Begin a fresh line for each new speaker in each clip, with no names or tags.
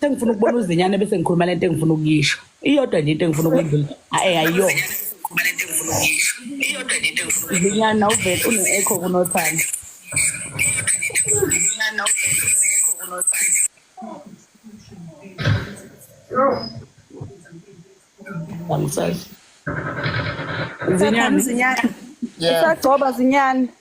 sengifuna ukubona
uzinyane bese ngikhuluma lento engifuna ukuyisho iyodwa nje into engifuna ukwendlula ayi ayiyo zinyana uvele une-echo kunothanda Zinyane.
Zinyane. Usagcoba zinyane.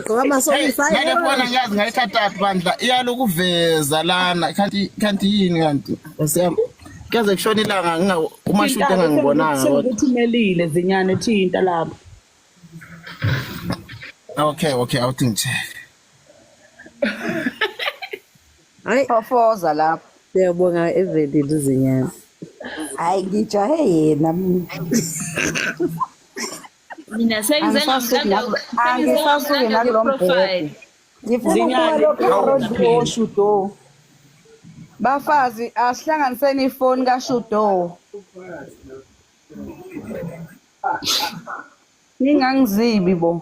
gqoka amasokisi ayi ngeke bona ngiyazi
ngayithatha phi bandla iyalokuveza lana kanti kanti yini kanti osiyam kuyaze kushona ilanga nginga uma shuthi engangibonanga kodwa uthumelile zinyane
thinta lapho
okay okay awuthi ngitheke
hayi ofoza lapho siyabonga
evelile izinyane hayi
ngijahe yena mina
mina
sengize angisasuke nakulo mbhede ngifunaualokoshudo bafazi asihlanganiseni ifoni kashudo ningangizibi bo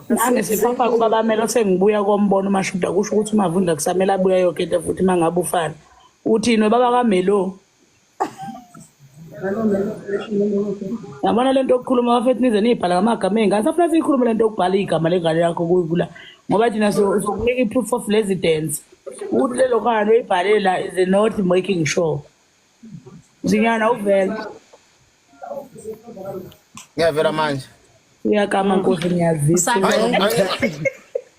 nangisiphofa kuba bamele sengibuya kombono umashuda kusho ukuthi umavundla kusamele abuya yoke into futhi uma ngabe ufana uthini baba kamelo yabona le nto yokukhuluma bafethu nize niyibhala ngamagama ey'ngane safuna siyikhulume le nto yokubhala igama lengane yakho kuyikula ngoba thina sokunika i-proof of residence ukuthi lelo khana loyibhalela is not making sure zinyana uvela
ngiyavela manje uyakama
nkosi ngiyazisa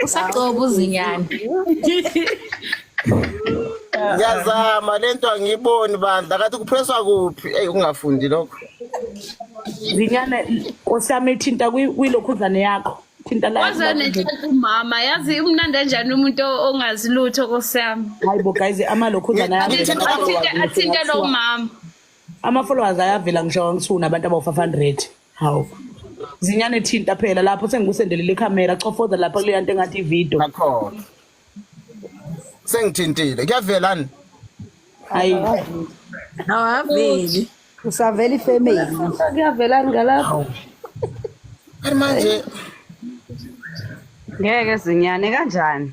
usagcoba uzinyane ngiyazama
le nto angiyiboni bandla kathi kuphreswa kuphi eyi ungafundi lokho
zinyane osami thinta kwilokhuzane yakho thinta laumama
yazi umnandi anjani umuntu ongazi lutho kosami hayi bo guys
amalokhuzane athinte
lomama ama followers
ayavela ngisho ngithu nabantu abawu 500 hawu zinyane thinta phela lapho sengikusendelele ikhamera chofoza lapha kuleya nto engathi ivideo
akhona sengithintile kuyavelani hayi
awaveli
usavela ifamily
kuyavelani
ngalapho
kanti manje
ngeke zinyane kanjani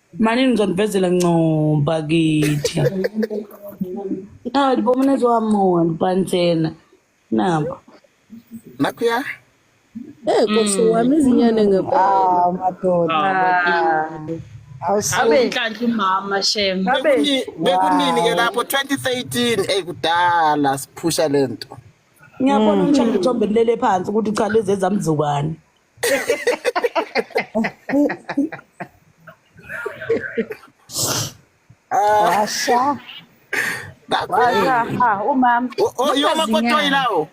Mani ngizonivezela ncoba kithi. Hayi bo mina zohamona pantsena. Nabo.
Nakuya.
Eh kosi mm. wami izinyane ngempela.
Ah
madoda. Awusabe
inhlanhla umama shem. Bekunini
ke lapho 2013 ey kudala siphusha lento. Ngiyabona mm.
umshana ithombe lele phansi ukuthi cha lezi ezamzukwane.
washa washa umama oyoma kotoyi
lawo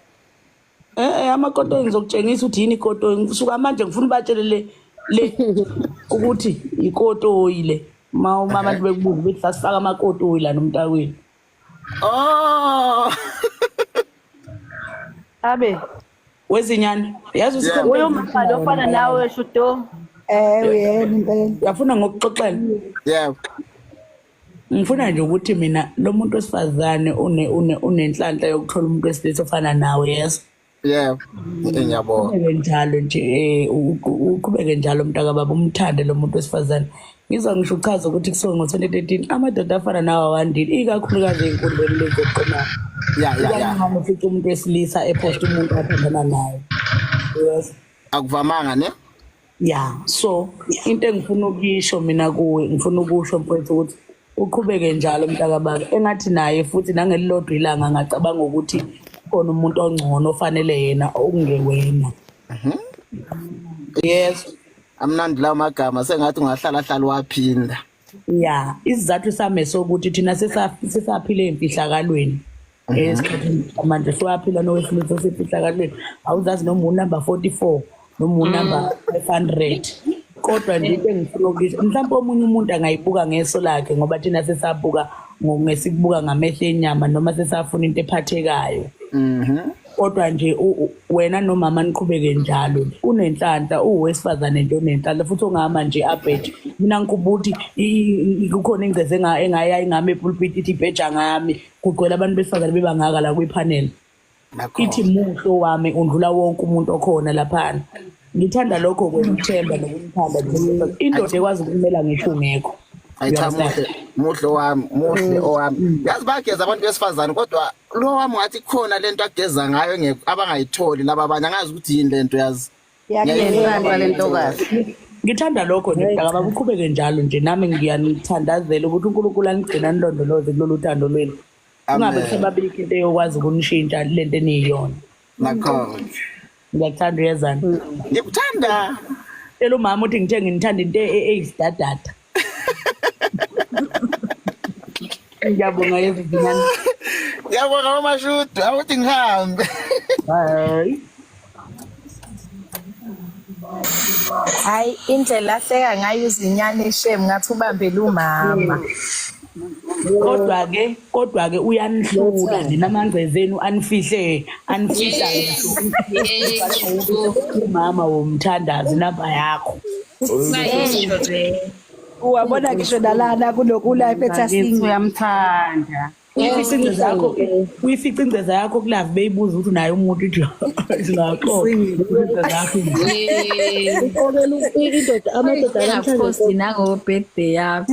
eh, eh
amakotoyi ngizokutshengisa ukuthi yini ikotoyi ngisuka manje ngifuna ubatshele le le ukuthi ikotoyi le ma uma abantu bekubuza ukuthi sasifaka amakotoyi la nomntakwenu
oh
abe wezinyane
yazi usikhona Uyo mama lo fana
nawe shuto. Eh uyena
impela. uyafuna ngokuxoxela
yebo ngifuna nje ukuthi mina lo muntu wesifazane une- une- unenhlanhla yokuthola umuntu wesilisa ofana nawe yeso yebo Eh,
ngiyabonga uqhubeke njalo
nje um uqhubeke njalo mntakababa umthande lo muntu wesifazane ngizwa ngisho uchaza ukuthi kusuke ngo-2013 amadoda afana nawo awandile ikakhulukazi ey'nkundleni lezi zokuxhumana Ya, ya, ya. ikaningi
ufica umuntu
wesilisa ephosta umuntu athandana naye yes Akuvamanga
ne? ya
so into engifuna ukuyisho mina kuwe ngifuna ukusho mfowethu ukuthi uqhubeke njalo mntakababa engathi naye futhi nangelilodwa ilanga ngacabanga ukuthi khona umuntu ongcono ofanele yena okungewena yes amnandi lawo
magama sengathi ungahlala hlala waphinda ya
isizathu sami sokuthi thina sisaphile emfihlakalweni mhm. esikhathini manje siwaphila nowesilisa osefihlakalweni awuzazi noma unumber forty four noma unumber mm. five hundred kodwa nje into engifuna ukuyisho mhlawumbe omunye umuntu angayibuka ngeso lakhe ngoba thina sesabuka ngesikubuka ngamehlo enyama noma sesafuna into ephathekayo mhm. kodwa nje wena nomama niqhubeke njalo unenhlanhla uwesifazane nje onenhlanhla futhi ongama nje abheje mina ngikhubuthi kukhona ingceze engaya ingami epulpiti ithi ibheja ngami kugcwele abantu besifazane bebangaka la kwipanel ithi muhlo wami undlula wonke umuntu okhona laphana ngithanda lokho kwemthemba nokumthanda indoda ekwazi ukumela ngisho ungekho ayichamuhle
muhle owami muhle mm. owami mm. yazi bageza abantu besifazane kodwa lo wami wathi khona lento ageza ngayo engekho abangayitholi laba abanye angazi ukuthi yini lento yazi Ngiyayithanda
le ntokazi. ngithanda lokho
nje mntaka baba uqhubeke njalo nje nami ngiyanithandazela ukuthi unkulunkulu anigcina anilondoloze kulolu thando lwenu kungabe Amen. kusebabikho into eyokwazi ukunishintsha lento eniyiyona Nakhona.
Ngiyakuthanda
uyezana. Ngikuthanda.
Tshela umama
uthi ngithe nginithanda into e- e- eyisidadada. Ngiyabonga yezinyane. Ngiyabonga
mama Shudu, awuthi ngihambe. Hayi.
Hayi indlela ahleka ngayo izinyane shame ngathi ubambele umama. kodwa ke
kodwa ke uyanihlula nina mangceze enu anifihle anifihla umama womthandazi namba yakho
uwabona ngisho nalana kunokulife ethasini uyamthanda
uyifica ingceza yakho kulove beyibuza ukuthi unaye umuntu indoda amadoda anamhlanje nango
birthday yakho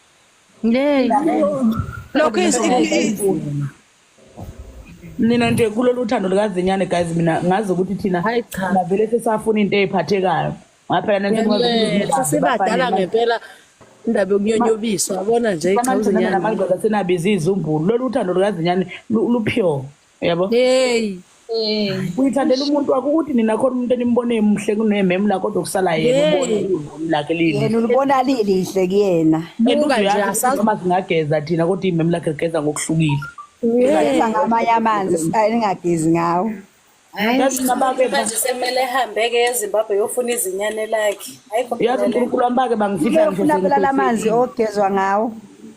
Yey.
Lokho is
nina nje kulolu thando lukazinyane guys mina ngazi ukuthi thina Hayi cha. navele sesafuna into eyiphathekayo ngaphela nentokuba sibadala ngempela
indaba yokunyonyobiswa yabona nje iqhamuzinyana namadoda senabiza
izizumbulu lolu thando lukazinyane lu- lupure yabo
hey
uyithandela umuntu wakho ukuthi nina khona umuntu enimbone emuhle kunememu la kodwa kusala yena ubone ivumi lakhe lini yena ulibona lilihle
kuyena buka nje asazi
uma singageza thina kodwa imemu lakhe ligeza ngokuhlukile ngigeza
ngamanye amanzi singagezi ngawo
manje semele
ehambeke ezimbabwe yofuna izinyane lakhe yazi unkulunkulu wami bake
bangifihla ngifuna phela la manzi
ogezwa ngawo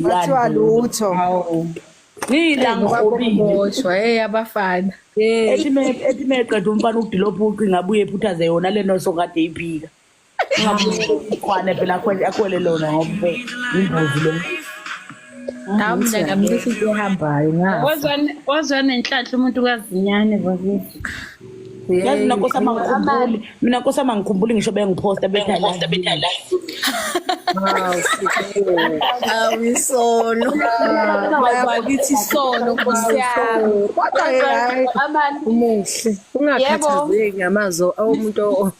Kuthiwa lutho. Ngiyilangoboshwa hey
abafana.
Ethi meqeda umfana ukudilopha ucinga abuye ephuthaze yona le nto sokade iphika. Ngakho phela akhwele lona ngoba imbuzi lona.
Hawu mina ngamlisa into ehambayo ngafa. Wazwane wazwane inhlanhla
umuntu kazinyane bakithi. Yazi
mina nkosi amangikhumbuli. Mina nkosi amangikhumbuli ngisho bengiphosta betha la. Betha la.
Awisono. Bakithi sono nkosi yami. Kodwa hayi
umuhle. Ungakhathazeki ngamazo omuntu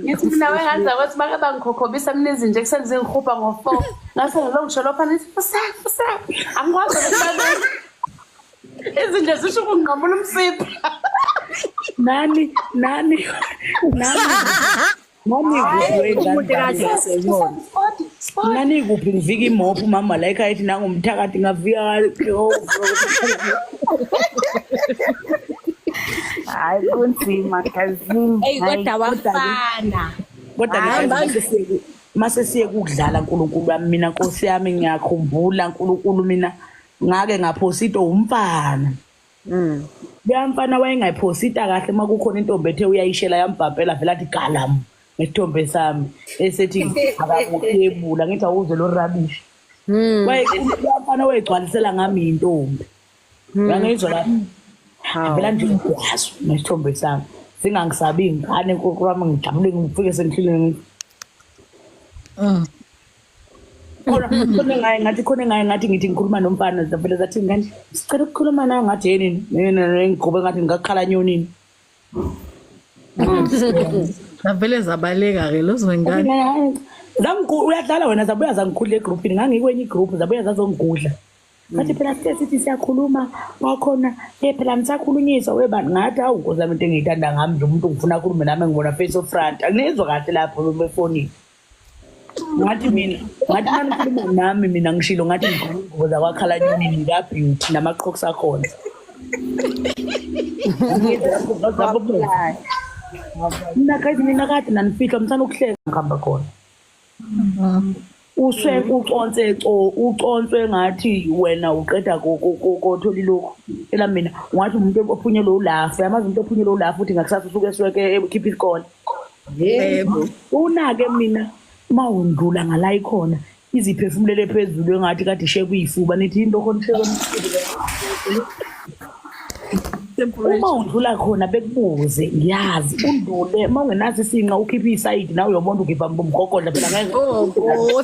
ngithi
mina wenganza ukuthi bake bangikhokhobisa mina izinja ekuseni zingihubha ngo-four ngase ngilo ngisho lopha nithi fusa fusa angikwazi ukubaleka izinja zisho ukunqamula umsipha
nani nani
nani nani
Nanikuphi ngivika imopha umama la ekhaya ethi nangumthakathi ngavika hayi kunzima kazini eyi kodwa
wafana kodwa ngihambe
mase siye kukudlala nkulunkulu wami mina nkosi yami ngiyakhumbula nkulunkulu mina ngake ngaphosa into umfana Mm. Leya mfana wayengayiphosita kahle uma kukhona intombi ethe uyayishela yambhabhela vele athi galam nesithombe sami esethi akakuthebula ngithi awuze lo rubbish. Mm. Wayekhuluma mfana wayegcwalisela ngami intombi. Mm. Yangizwa lapho. Hawu. Vele nje ukwazi nesithombe sami. Singangisabi ingane nkokwami ngijabule ngifike sengihlile ngithi Mm. khona khona ngaye ngathi khona ngaye ngathi ngithi ngikhuluma nomfana zavele zathi ngani sicela ukukhuluma nayo ngathi yini mina ngigube ngathi ngakhala nyonini
zavele zabaleka ke lozo ngani zangu uyadlala
wena zabuya zangikhulula egroupini ngangikwenye igroup zabuya zazongigudla ngathi phela sike sithi siyakhuluma kwakhona ye phela nisakhulunyiswa weba ngathi awu nkosi lami into engiyithanda ngami nje umuntu ngifuna akhulume nami ngibona face of front anginezwa kahle lapho befonini ngathi mina ngathi manikhuluma nami mina ngishilo ngathi ngigqoka ingubo zakwakhala nyoni ngikabeauty namaqhoks akhona mina guys mina kade nanifihlwa mthanda ukuhleka ngihamba khona uswe uconse co uconse ngathi wena uqeda kothola ilokhu ela mina ungathi umuntu ophunyelwe ulafu yamazi umuntu ophunyelwe ulafu uthi ngakusasa usuke esweke ekhipha isikole yebo unake mina mawundlula ngala ikhona iziphefumulele phezulu engathi kade ishe kuyifuba nithi into khona ishe uma undlula khona bekubuze ngiyazi undlule uma ungenaso isinqa ukhiphe isayidi nawe uyobona ugiva mgogodla phela ngeke oh,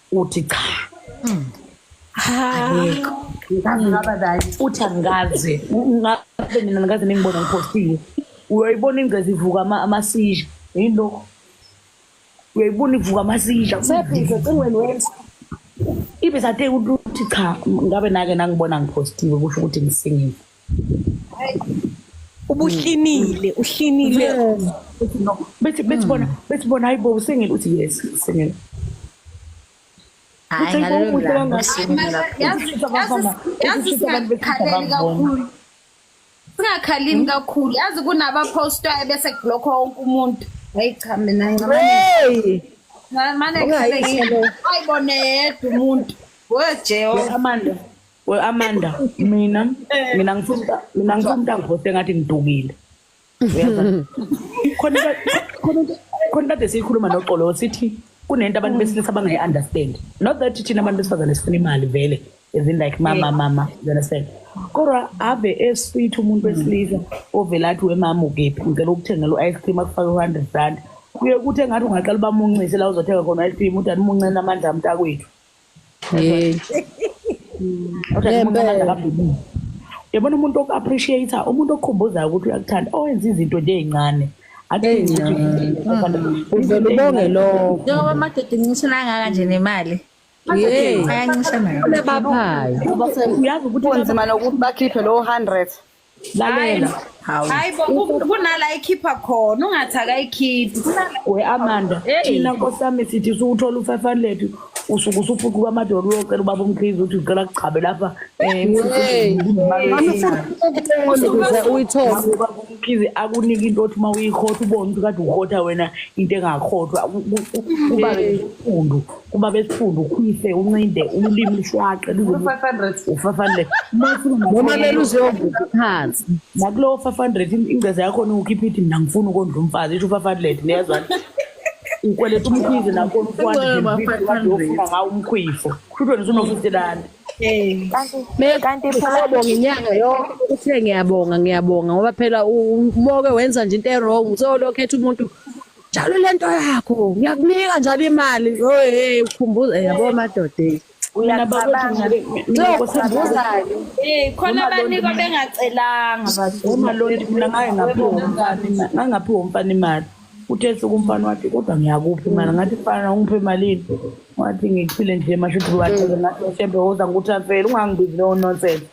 uthi cha mm. ayikho uthi angikaze ngabe mina ngikaze ningibona ngiphostile uyoyibona ingcezi ivuka amasizha yini lokho uyoyibona ivuka amasizha sebhize cingweni wenza ibe sathe ukuthi cha ngabe nake nangibona ngiphostile kusho ukuthi ngisingile
ubuhlinile uhlinile bethi
bethi bona bethi bona hayibo usengile uthi yes usengile
hayi ngalolulangakhaleli
singakhalini kakhulu yazi kunabapostwayo bese kulokho wonke umuntu hayi cha mina ncamane mane ayibone yedwa umuntu wejehova we Amanda
mina mina ngifuna mina ngifuna umuntu angihoste ngathi ngidukile uyaza khona khona khona kade sikhuluma noxolo sithi kunento abantu besilisa abangayi understand not that thina abantu besifazane sifuna imali vele as in like mama mama you understand kodwa ave esweet umuntu wesilisa ovela athi wemama ukephi ngicela ukuthengela u-ice cream akufake u-hundred rand kuye kuthi engathi ungaqala ubamuncise la uzothenga khona u-ice cream uthi andimuncela amandla amntakwethu yabona umuntu oku-appreciate-a umuntu okukhumbuzayo ukuthi uyakuthanda owenza izinto nje ey'ncane
uvele ubonge lowo njengoba amadoda incisho
nangaka nje nemali
ayancishana uyazi ukuthi
kunzima nokuthi bakhiphe
lowo hundred lalela
hawu hayi bo
ku- kunala ikhipha khona ungathi akayikhiphi kunala we amanda
Hey. thina nkosami sithi suwuthola u-five hundred usuke usufuqa kwamadolo uyocela ubaba umkhizi ukuthi ucela kugcabe lapha Hey.
ukuze uyithole ubaba
umkhizi akunike into othi uma uyikhotha ubone ukuthi kade ukhotha wena into engakhothwa Ku- ku- ku- kuba nesifundu kuba besifunda ukhwise uncinde ulimi lushwaqe noma
leluziyovutha phansi nakulowo five
hundred ingceza yakhona ukhipha ithi mna ngifuna ukondla umfazi isho u-five hundred niyazwani ukweleta umkhwizi nakhona ufuanaofuna ngawo umkhwifo kushuthi wena usuno-fifty rand
kanti philabonga inyanga yonke uthe ngiyabonga ngiyabonga ngoba phela uboke wenza nje into erong so lokhetha umuntu njalo lento yakho ngiyakunika njalo imali oye ukhumbuza yabo madoda
khona abanikwa bengacelanga omalondi
mina ngangaphiwa umfana imali uthe suku umfana wathi kodwa ngiyakuphi imali ngathi fana ungiphe imalini wathi ngiphile nje mashuthi wathi ngathi shembe woza ngikuthafele ungangibizi lowo nonsense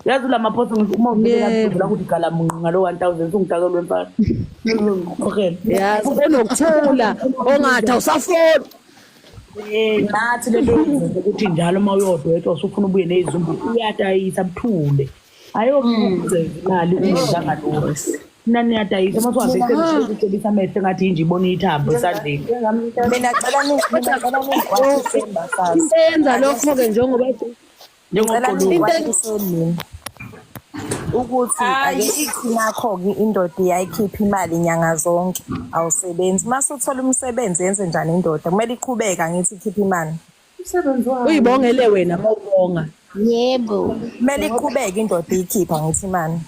yazi ulamaphosa ngisho uma unikelaula ukuthi gala munqi ngalo one thousand sungidakelwe mfana yazi
unokuthula ongathi awusafoni
nathi lento ukuthi njalo uma uyodwetshwa usufuna ubuye nezumbu uyadayisa buthule ayokwenza imali ungenangaloo mina niyadayisa uma siwazecebisa amehlo engathi yinje ibona iyithambo esandleni mina
cela into yenza lokho-ke
njengoba Ngicela Njengoqulu- nikwazise
mina ukuthi Ayi. ake ithi nakho-ke indoda iyayikhipha imali nyanga zonke awusebenzi uma suthola umsebenzi yenze njani indoda kumele iqhubeka ngithi ikhiphe imali Umsebenzi wayo.
uyibongele wena mawubonga yebo
kumele iqhubeke indoda iyikhipha ngithi imali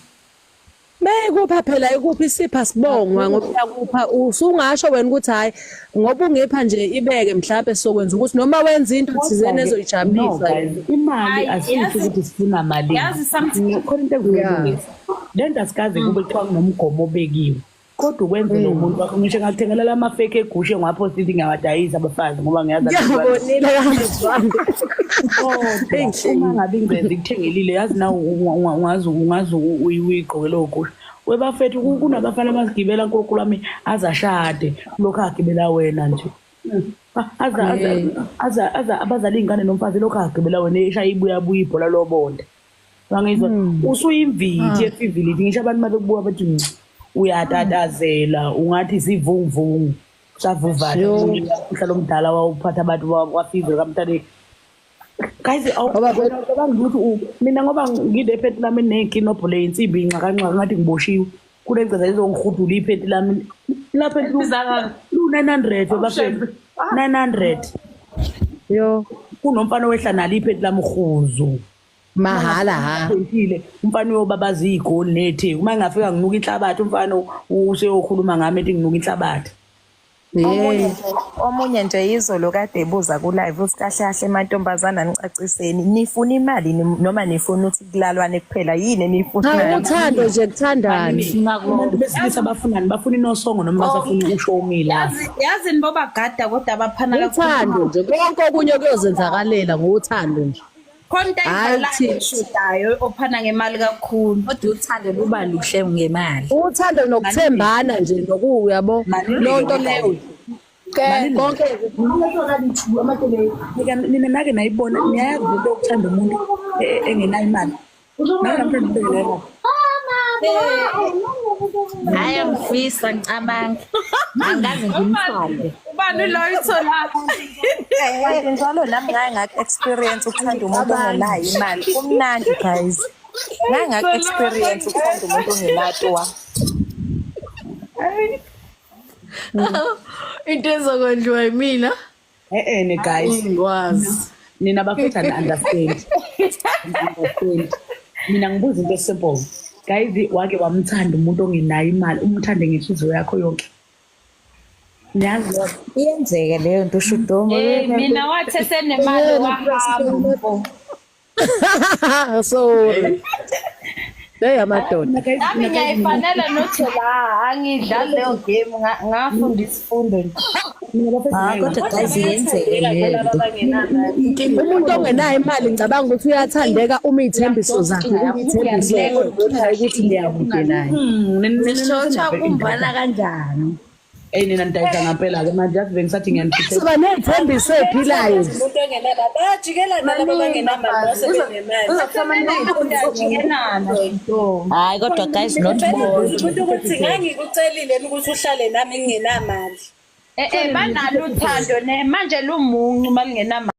Mekupha phela ikuphi isipha sibongwa ngoba yakupha usungasho wena ukuthi hayi ngoba ungipha nje ibeke mhlawumbe sokwenza ukuthi noma wenza into thizeni ezoyijabulisa imali
asisho ukuthi sifuna mali yazi something khona
into ekulungisa
lento asikaze kube kuthiwa kunomgomo obekiwe kodwa ukwenze lo muntu wakho ngisho ngakuthengela la mafeke egushe ngwapho sithi ngiyawadayisa abafazi ngoba ngiyazi Ngiyakubonile kazi
wami. kodwa
uma ngabe ingcezi ikuthengelile yazi na ungazi ungazi uyigqoke lowo gusha webafethu ku- kunabafana abazigibela nkulunkulu wami azashade lokhu agibela wena nje Ah, aza aza aza aza abazala iy'ngane nomfazi lokhu agibela wena eshaya ibuyabuya ibhola lobonda wangizwa hmm. usuyimviti efivilithi hmm. ngisho abantu uma bekubuka bathi hmm, uyatatazela ungathi zivungvungu savuvale umhlalo omdala wawuphatha abantu kwafivile kamntaneni guys awubangiluthi mina ngoba ngide ephethi lami nekinobho le yinsimbi inxakanxaka ngathi ngiboshiwe kule ngceza izongirhudula iphethi lami lapho lu-nine hundred bafethu nine hundred
yo kunomfana
owehla nalo iphethi lami rhuzu mahhala
ha Ngithile umfana
uyobabaza igoli nethe uma ngingafika nginuka inhlabathi umfana useyokhuluma ngami ethi nginuka inhlabathi omunye nje
omunye nje izolo kade ebuza ku live uthi kahle kahle mantombazana nicaciseni nifuna imali ni- noma nifuna ukuthi kulalwane kuphela yini enifuna cha uthando nje
kuthandane abantu besilisa
bafunani bafuna inosongo noma basafuna ukusho umila Yazi- yazi nibo
bagada kodwa abaphana uthando nje konke
okunye kuyozenzakalela ngothando nje khona into
ayidlalayo eshodayo ophana ngemali kakhulu kodwa uthando luba
luhle ngemali uthando nokuthembana
nje noku uyabo lonto leyo konke
nina nake nayibona niyayazi into yokuthanda umuntu e-, engenayo imali hayi
angifisa ngicabanga angazi ngimthande ubani loyo
itholakho kanti
njalo nami ngaye ngakho experience ukuthanda umuntu ongenayo imali kumnandi guys ngaye ngakho experience ukuthanda umuntu ongenato wa
into ezokwenziwa yimina e-ene
guys ingwazi
nina bafethu
ani-understand understand mina ngibuza into esimple guys wake wamthanda umuntu ongenayo imali umthande ngenhliziyo yakho yonke niyazi iyenzeka
leyo nto ushudomo mina wathe
senemali wahamba
so Hey amadoda. Nami ngiyayifanela
nothi la angidlali leyo game ngafunda isifundo nje. Ah, kodwa guys yenzeke umuntu ongenayo
imali ngicabanga ukuthi uyathandeka uma iy'thembiso zakhe iy'thembiso ukuthi niyakude naye. Hmm, Nishotsha
kumbana kanjani? eyi nina
nidayisa ngampela-ke manje yazi bengisathi ngiyanisuka ney'thembiso
ey'philayo umuntu ongenala
bayajikelana laba bangenamali base
benemali hayi kodwa guys not umuntu ukuthi
ngangikucelile ukuthi uhlale nami ngingenamali Eh, eh, banalo
uthando ne manje lumuncu uma lingenamali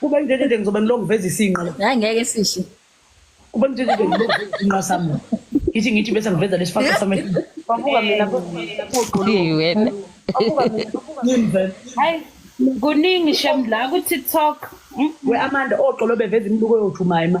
Kuba ngeke
nje ngizobe ngilokhu veza isinqa la. Hayi ngeke sihle.
Kuba ngeke
nje ngilokhu veza isinqa sami. Ngithi ngithi bese ngiveza lesifaka sami.
Babuka mina Hey, wena. Yini vele? Hayi kuningi
shem
la
ku TikTok. We
Amanda
oxolo
beveza
imibuko
yothu
mayima.